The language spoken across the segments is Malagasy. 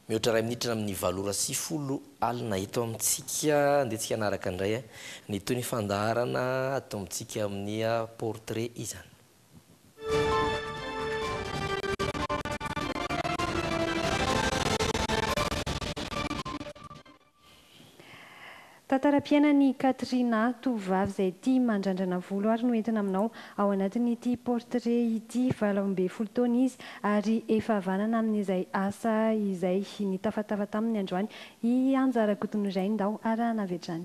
Mihoatra iray minitra amin'ny valo ora sy folo alina eto amintsika. Andehantsika hanaraka indray ny tohin'ny fandaharana atombontsika amin'ny portrait izany. Tantaram-piainan'i Katrina, tovovavy izay tia mandrandrana volo ary no entina aminao. Ao anatin'ity portrait ity, valo ambin'ny folo taona izy ary efa havanana amin'izay asa izay nitafatafa taminy androany i Anja Rakotonirainy Ndao arahana avy hatrany.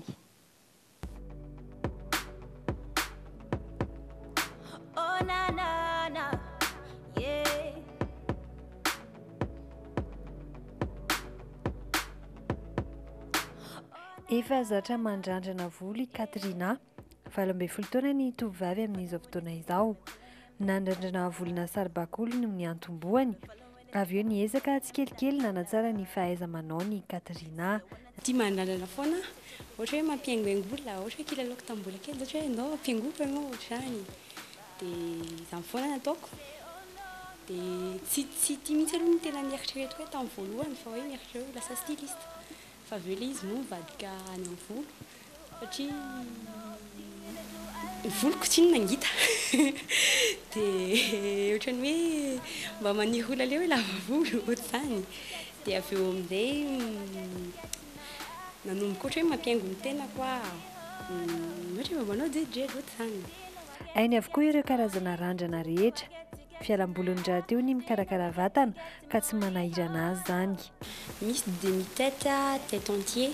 Efa zatra mandrandrana volo i Katrina, valo ambin'ny folo taona ny tovovavy amin'izao fotoana izao. Nandrandrana volona saribakoly no niantombohany. Avy eo niezaka tsikelikely nanatsara ny fahaiza-manaony i Katrina. Tia mandrandrana foana aho. Ohatra hoe mampihaingohaingo olona, ohatra hoe kilalaoko tamin'ny mbola kely izao hoe ndao ampihaingoako ianao ohatr'izany. Dia izany foana no ataoko. Dia tsy tsy tia mihitsy aloha ny tena nieritreretiko hoe tamin'ny voalohany fa hoe mieritreritra hoe ho lasa styliste. Fa avy eo ilay izy no nivadika any amin'ny volo. satria ny voloko tsy inona ngita dia ohatran'ny hoe mba maniry ho laleo hoe lava volo ohatr'izany dia avy eo amin'izay nanomboka ohatra hoe mampihaingo ny tenako aho ohatra hoe mba manao jerijeriy ohatr'izany. Hainy avokoa ireo karazana randrana rehetra. Fialamboliny rahateo ny mikarakara vatana ka tsy manahirana azy zany. Misy demi tête a, tête entier,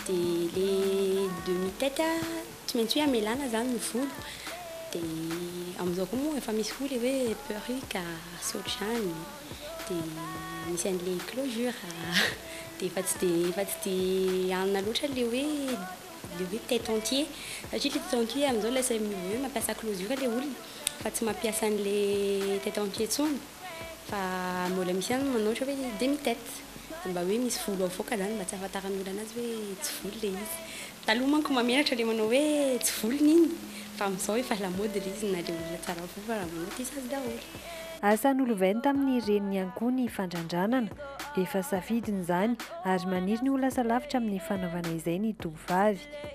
de le demi tête a tsy maintsy hoe amelana zany ny volo, de amin'izao koa moa efa misy koa le hoe perruque a sy ohatr'izany, de misy an'le closure a, de efa tsy de efa tsy de hanina loatra le hoe le hoe tête entier satria le tête entier amin'izao lasa hoe mampiasa closure le olona fa tsy mampiasa an'le tête entier intsony. Fa mbola misy ihany manoatra hoe demi tete, dia mba hoe misy volo avoaka izany mba tsy ahafantaran'ny olona anazy hoe tsy volo ilay izy. Taloha manko mamelatra ilay manao hoe tsy volony iny, fa amin'izao efa lamaody ilay izy na dia olona tsara volo fa raha manao dia sazy daholo. Asa nolovainy tamin'ny reniny ihany koa ny fandrandranana. Efa safidiny izany ary maniry ny ho lasa lavitra amin'ny fanaovana izay ny tovovavy.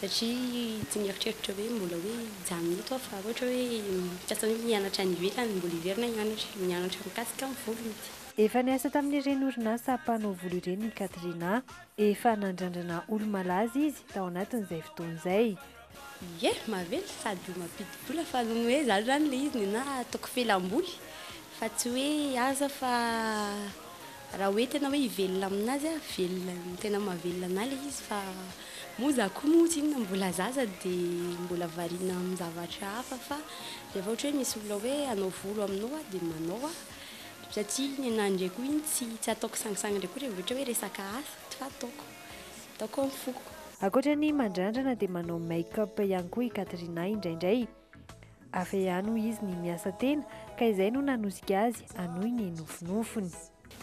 satria tsy mieritreritra hoe mbola hoe hijanona eto aho fa ohatra hoe mikasa hoe mianatra any ivelany, mbola hiverina hianatra, mianatra mikasika ny volo mihitsy. Efa niasa tamin'ireny orinasa mpanao volo ireny i Katrina. Efa nandrandrana olo-malaza izy tao anatin'izay fotoana izay. Ie, maventy sady mampidi-bola fa noho ny hoe izaho izany ilay izy nenaha ataoko fialam-boly fa tsy hoe asa fa Raha hoe tena hoe hivelona aminazy aho, velona, tena mahavelona anah ilay izy fa moa izaho koa moa tsinona mbola zaza dia mbola variana amin'ny zavatra hafa fa rehefa ohatra hoe misy olona hoe hanao volo aminao aho dia manao aho satria ny anah indray koa iny tsy tsy ataoko sangisangy indray koa rehefa hoe resaka asa fa ataoko ataoko amin'ny foko. Ankoatra ny mandrandrana dia manao make-up ihany koa i Katrina indraindray. Avy eo ihany hoy izy ny miasa tena ka izay no nanosika azy hanohy ny nofinofiny.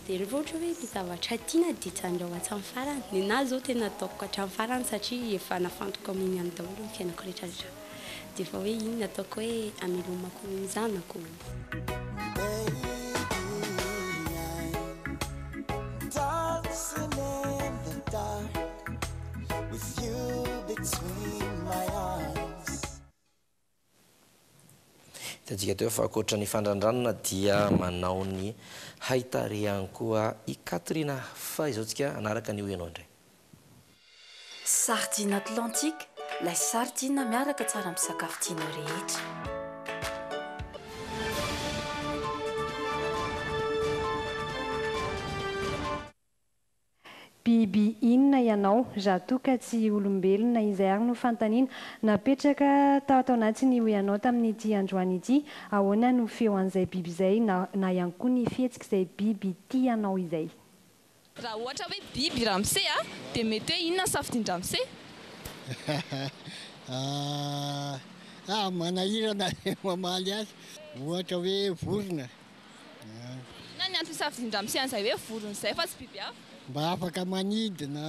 Dia rehefa ohatra hoe ny zavatra tiana dia tsandrao hatramin'ny farany. Ny anah izao tena ataoko hatramin'ny farany satria efa nafantoko amin'ny an'ny daholo ny fiainako rehetrarehetra. Dia efa hoe iny no ataoko hoe hamelomako ny zanako. Hitantsika teo fa ankoatra ny fandrandranana dia manao ny haitarehany koa i Katrina. Faizao tsika hanaraka ny Hoy ianao indray. Sardine Atlantique, lay sardine miaraka tsara amin'ny sakafo tianao rehetra. Biby inona ianao? Za toa ka tsy olombelona. Izay ary no fanontaniana napetraka tato anaty ny hoe anao tamin'ity androany ity. Ahoana no feo an'izay biby izay na na ihany koa ny fihetsik'izay biby tia anao izay? Raha ohatra hoe biby i ramose a, dia mety hoe inona ny safidian-dramose? Ahh, manahirana ny mamaly azy. Ohatra hoe vorona. Inona ny antony safidian-dRamose an'izay hoe vorona izay fa tsy biby hafa? Mba afaka manidina,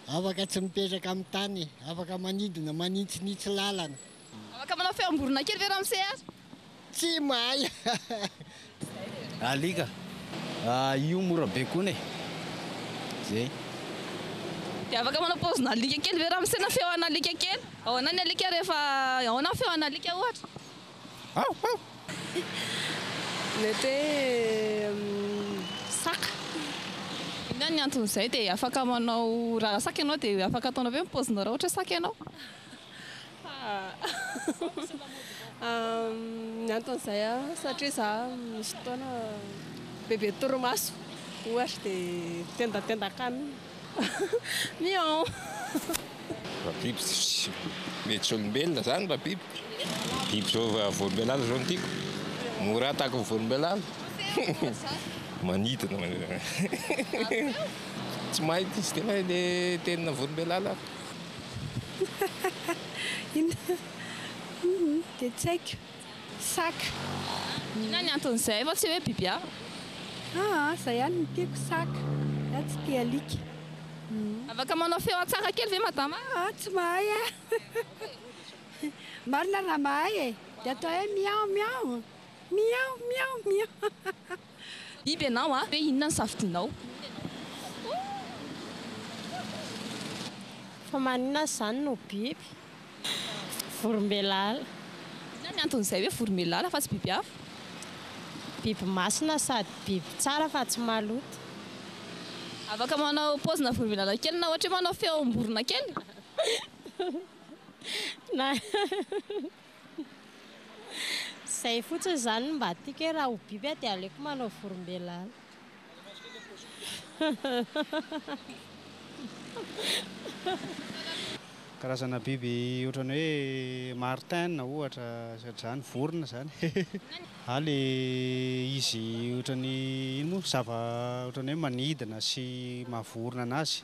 afaka tsy mipetraka amin'ny tany, afaka manidina manitsinitsy lalana. Afaka manao feom-borona kely ve Ramose ary? Tsy mahay. Alika, io mora baikoina e. Zay. Dia afaka manao paozin'alika kely ve Ramose na feo an'alika kely? Ahoana ny alika rehefa, ahoana ny feo an'alika ohatra? Mety hoe saka. Inona ny anton'izay dia afaka manao raha saka ianao dia afaka ataonao ve ny paozinao raha ohatra hoe saka ianao? Ny anton'izay satria za misy fotoana bebe torimaso ohatra dia tendatendaka any. Miaon. Biby tsy mety tsy olombelona zany mba biby? Biby zao va volombelala zao no tiako? Mora ataky ny volombelala. Manidina tsy mahay tsy de mahay le tenina volombelala aho. Inona? Dia tsy haiko. Saka. Inona ny anton'izay fa tsy hoe biby hafa? Aa, izay ihany no tiako, saka. Za tsy tia alika. Afaka manao feo an-tsaka kely ve madama? Aa, tsy mahay aho. Marina raha mahay e, dia atao hoe miao miao, miao miao miao. Biby ianao a! Hoe inona ny safidinao? Fa maninona aza izany no biby? Vorombelalà. Inona ny anton'izay hoe vorombelalà fa tsy biby hafa? Biby masina sady biby tsara fa tsy maloto. Afaka manao paozina vorombelalà kely na ohatra hoe manao feom-borona kely? Na. Izay fotsiny izany no mba tiako hoe raha ho biby aho dia aleoko manao vorombelala. Karazana biby ohatran'ny hoe martin ohatra izay zany vorona izany a le izy ohatran'ny ino moa zava ohatran'ny hoe manidina sy maha vorona anazy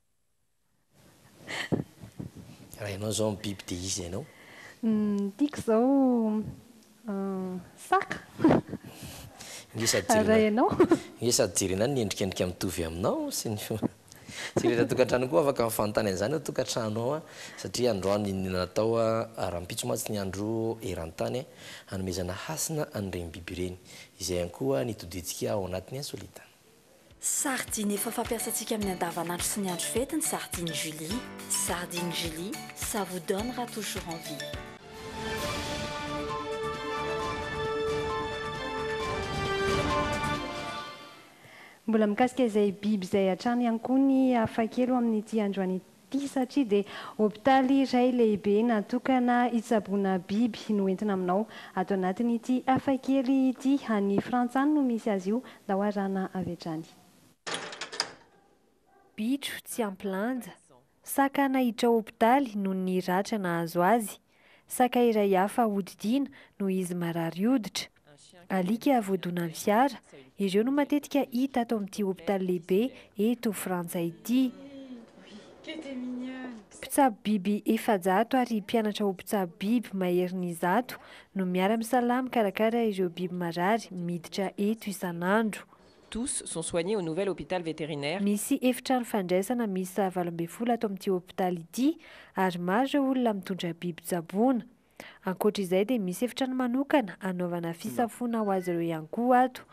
Raha ianao izao ny biby dia iza ianao? Ny tiako izao saka. Inge sady jerena. Raha ianao? Inge sady jerena ny endrikendrika mitovy aminao sy ny fo. Tsy rehetra tokantrano koa afaka mifanontany an'izany ao tokantrano ao satria androany iny natao rahampitso mantsy ny andro eran-tany hanomezana hasina an'ireny biby ireny. Izay ihany koa ny todintsika ao anatin'ny insolite. Sardine efa fampiasantsika amin'ny andavanandro sy ny andro fety ny sardine Julie, sardine Julie, ça vous donnera toujours envie. Mbola mikasika izay biby izay hatrany ihany koa ny hafakely ho amin'ity androany ity. ity satria dia hopitaly iray lehibe natokana hitsaboana biby no entina aminao ato anatin'ity hafakely ity. Any Frantsa any no misy azy io, ndao arahana avy hatrany. Bitro tsy ampy lanja, saka nahiditra hopitaly noho ny ratra nahazo azy. Saka iray hafa hodidiana noho izy marary hoditra. Alika voadonan'ny fiara, ireo no matetika hita ato amin'ity hopitaly lehibe eto Frantsa ity. Mpitsabo biby efajato ary mpianatra ho mpitsabo biby maherin'ny zato no miara-misalahy mikarakara ireo biby marary miditra eto isan'andro. Tous sont soignés au nouvel hôpital vétérinaire. Misy efitrano fandraisana miisa valo ambin'ny folo ato amin'ity hôpitaly ity ary maro ireo olona mitondra biby tsaboina. Ankoatra izay dia misy efitrano manokana anaovana fisafoana ho azy ireo ihany koa ato.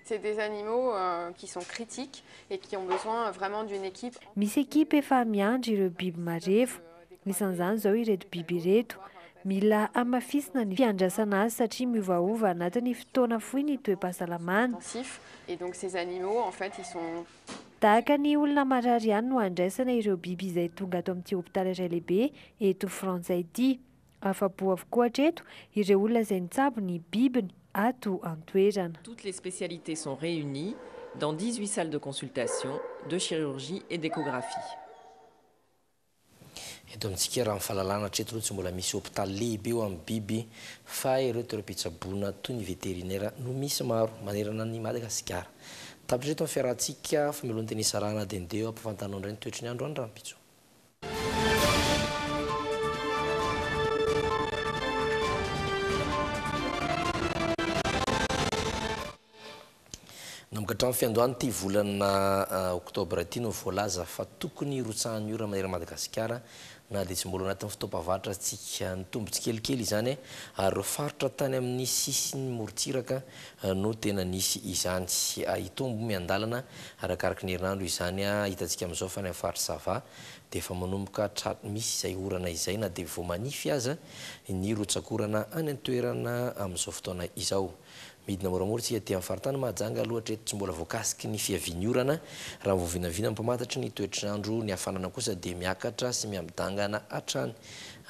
C'est des animaux qui sont critiques et qui ont besoin vraiment d'une équipe. Misy ekipa efa miandry ireo biby marefo. Anisan'izany izao ireto biby ireto. Mila hamafisina ny fiandrasana azy satria miovaova anatin'ny fotoana fohy ny toe-pahasalamany. Tahaka ny olona marary ihany no andraisana ireo biby izay tonga ato amin'ity hopitaly iray lehibe eto Frantsa ity. Afa-po avokoa hatreto ireo olona izay nitsabo ny bibiny ato an-toerana. Toutes les spécialités sont réunies dans dix-huit salles de consultation, de chirurgie et d'échographie. Eto amintsika raha ny fahalalana hatreto aloha tsy mbola misy hopitaly lehibe ho an'ny biby fa ireo toeram-pitsaboana toy ny veterinera no misy maro manerana an'i Madagasikara. Tapitra hatreto ny fiarahantsika famelohan-tena isarahana dende eo ampahafantarinao indray ny toetry ny andro any rahampitso. Nanomboka hatramin'ny fiandohan'ity volana oktobra ity no voalaza fa tokony hirotsahan'ny ora maneran'i Madagasikara na dia tsy mbola ao anatin'ny fotoam-pavahatrantsika. Nitombo tsikelikely izany ary ireo faritra tany amin'ny sisin'ny morontsiraka no tena nisy izany. Hitombo miandalana arakaraka ny herinandro izany. Hitantsika amin'izao fa any amin'ny faritra Sava dia efa manomboka misy izay orana izay na dia vao manify aza ny rotsakorana any an-toerana amin'izao fotoana izao. Midina moramora isika ety amin'ny faritany Mahajanga aloha hatreto tsy mbola voakasiky ny fiavian'ny orana. Raha vao vinavina mpamantatry ny toetr'andro ny hafanana kosa dia miakatra sy miha-midangana hatrany.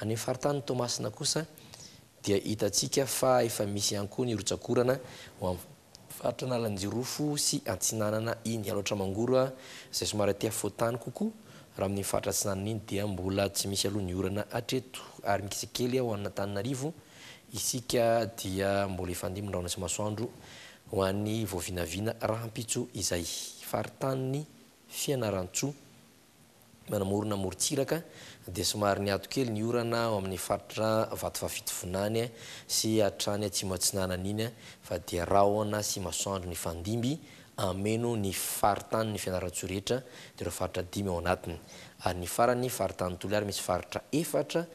Any amin'ny faritany Toamasina kosa dia hitantsika fa efa misy ihany koa ny rotsak'orana ho amin'ny faritra Analanjirofo sy Antsinanana iny. Alaotra Mangoro izay somary aty afovoan-tany kokoa raha amin'ny faritra Atsinanana iny dia mbola tsy misy aloha ny orana hatreto ary mikisakely ao An'Antananarivo. Isika dia mbola hifandimby ny rahona sy masoandro ho an'ny voavinavina rahampitso izay. Faritanin'i Fianarantsoa, manamorona amorontsiraka, dia somary niato kely ny orana ao amin'ny faritra Vatovavitovinany sy hatrany Atsimo Atsinanana iny fa dia rahona sy masoandro nifandimby hameno ny faritany ny Fianarantsoa rehetra dia ireo faritra dimy ao anatiny ary ny farany faritany Toliary misy faritra efatra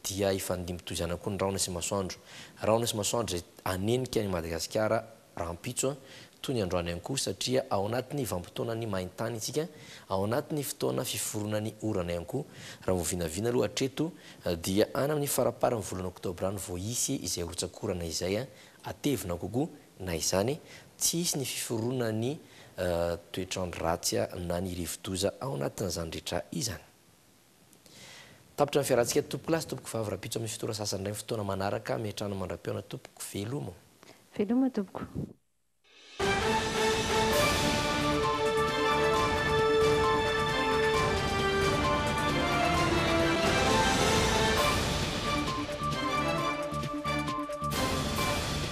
dia hifandimby toy izany koa ny rahona sy masoandro rahona sy masoandro izay hanenika an'i Madagasikara rahampitso toy ny androany ihany koa satria ao anatin'ny vanim-potoanan'ny main-tany isika ao anatin'ny fotoana fiforonan'ny orana ihany koa raha vao vinavina aloha hatreto dia any amin'ny faramparan'ny volana oktobra any vao hisy izay rotsakorana izay hatevina kokoa Na izany, tsy hisy ny fiforonan'ny toetr'andro ratsy na ny rivodoza ao anatin'izany rehetra izany. Tapitra ny fiarantsika tompokolahy sy tompokovavy rahampitso amin'ny fito ora sasany indray ny fotoana manaraka, miantrano mandra-peo ana tompoko, velomo. Veloma tompoko.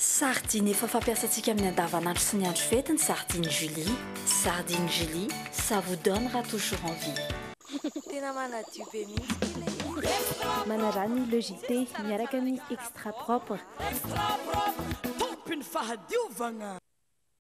Sardine efa fampiasantsika amin'ny andavanandro sy ny andro fety ny sardine Julie. Sardine Julie, ça vous donnera toujours envie. Tena manadio be mihitsy ity le izy. Manarà ny Le JT miaraka amin'ny Extra Propre. Extra Propre, Tompy ny fahadiovagna.